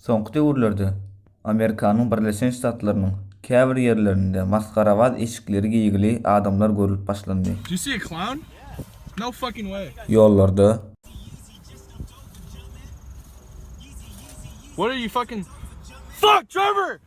Soňky döwürlerde Amerikanyň Birleşen Ştatlarynyň käbir ýerlerinde masgarabaz eşikleri geýgili adamlar görlüp başlandy. Ýollarda.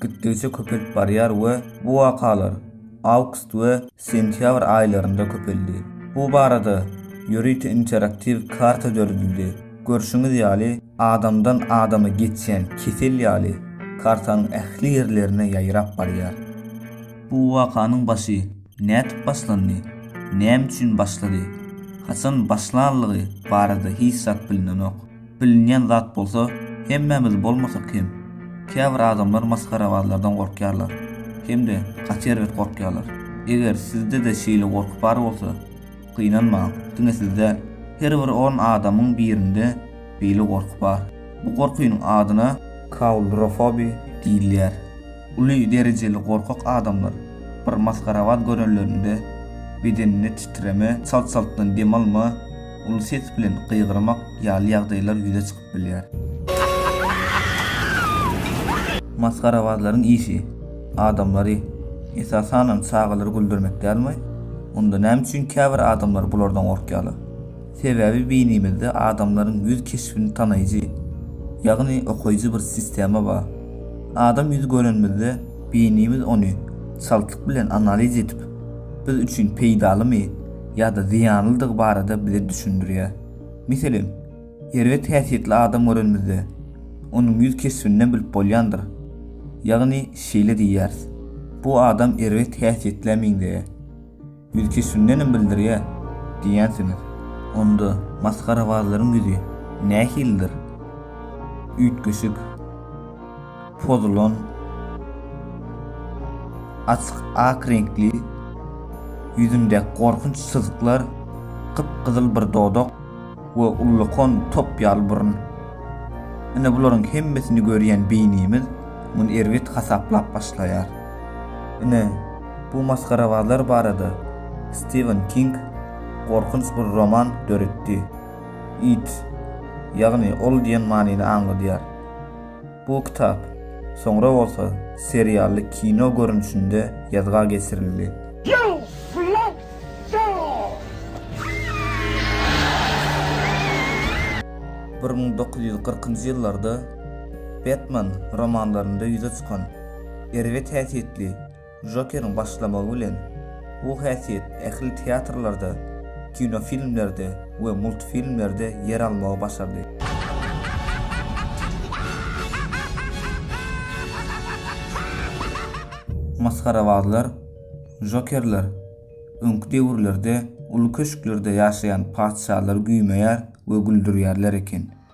gitdigiçe köpelip barýar we bu wakalar awgust we sentýabr aýlarynda köpeldi. Bu barada ýörite interaktiw karta döredildi. Görşüňiz ýaly, adamdan adama geçýän kesel ýaly kartanyň ähli ýerlerine ýaýrap barýar. Bu wakanyň başy nädip başlandy, näme üçin başlady, haçan başlanlygy barada hiç zat bilinenok. Bilinýän zat bolsa, hemmämiz bolmasak hem, käbir adamlar masgarabazlardan gorkýarlar. Hem-de gaty erbet gorkýarlar. Eger sizde-de şeýle gorky bar bolsa, gynanmaň, diňe siz däl, her bir on adamyň birinde beýle gorky bar. Bu gorkynyň adyna. Kaulrofobi diýilýär. Uly derejeli gorkak adamlar bir masgarabaz görenlerinde bedeninde titreme, çalt-çaltdan dem alma, uly ses bilen gygyrmak ýaly ýagdaýlar ýüze çykyp bilýär. Masgarabazlaryň işi adamlary, esasanam çagalary güldürmek dälmi? Onda näme üçin käbir adamlar bulardan gorkýarlar? Sebäbi beýnimizde adamlaryň ýüz keşbini tanaýjy, ýagny okaýjy bir sistema bar. Adam ýüzi görenimizde beýnimiz ony çaltlyk bilen analiz edip, biz üçin peýdalymy, ýa-da zyýanlydygy barada bize düşündirýär. Meselem, erbet häsiýetli adam görenimizde, onuň ýüz keşbinden bilip bolýandyr. Ýagny şeýle diýýäris, Bu adam erbet häsiýetlä meňzeýär. Ýüz keşbindenem bildirýär diýýänsiňiz. Onda masgarabazlaryň ýüzi nähilidir? Üýtgeşik. pozulan açyk ak reňkli ýüzündäki gorkunç çyzyklar, gyp-gyzyl bir dodak we ullakan top ýaly burun. Ine bularyň hemmesini görýän beýnimiz muny erbet hasaplap başlaýar. Ine, bu masgarabazlar barada Stiwen King gorkunç bir roman döretdi. It, ýagny ol diýen manyny aňladýar. Bu kitap, soňra bolsa serially kino görnüşinde ýazga geçirildi. Bir müň dokuz ýüz kyrkynjy ýyllarda Batman romanlarynda ýüze çykan erbet häsiýetli Jokeriň başlamagy bilen, bu häsiýet ähli teatrlarda, kinofilmlerde we multfilmlerde ýer almagy başardy. Masgarabazlar, Jokerler, öňki döwürlerde uly köşklerde ýaşaýan patyşalary güýmeýär we güldürýärler eken.